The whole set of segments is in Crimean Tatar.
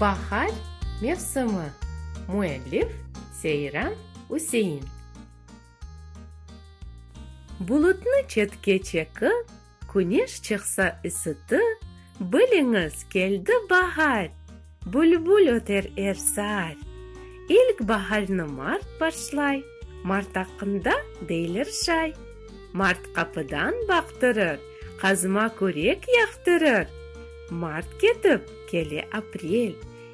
Bahar mevsimi. Müellif, Seyran Üsein. Bulutnı çetke çeki, Küneş çıqsa ısıtı, Biliñiz, keldi bahar! Bülbül öter er saat. İlk baharnı mart başlay. Mart aqqında deyler şay. Mart qapıdan baqtırır. Qazıma körek yaqtırır. Mart ketip, kele aprel.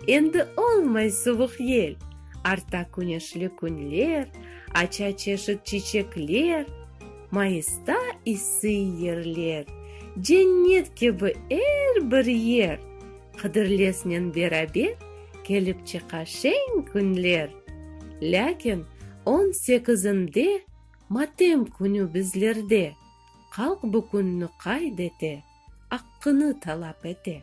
Endi olmay suvuq yel. Arta küneşli künler. Aça çeşit çiçekler. Mayısta isıy yerler. Cennet kibi er bir yer. Qıdırlesnen beraber kelip çıqa şeñ künler. Lâkin on sekizinde matem künü bizlerde, Qalq bu künni qayd ete, aqqını talap ete.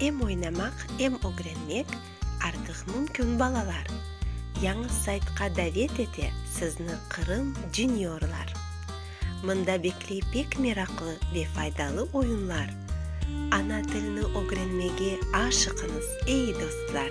Em oynamaq, em ögrenmek artıq mümkün balalar. Yañı saytqa davet ete sizni Qırım Juniorlar. Mında bekley pek meraqlı ve faydalı oyunlar, Ana tilni ögrenmege aşıqıñız, ey dostlar!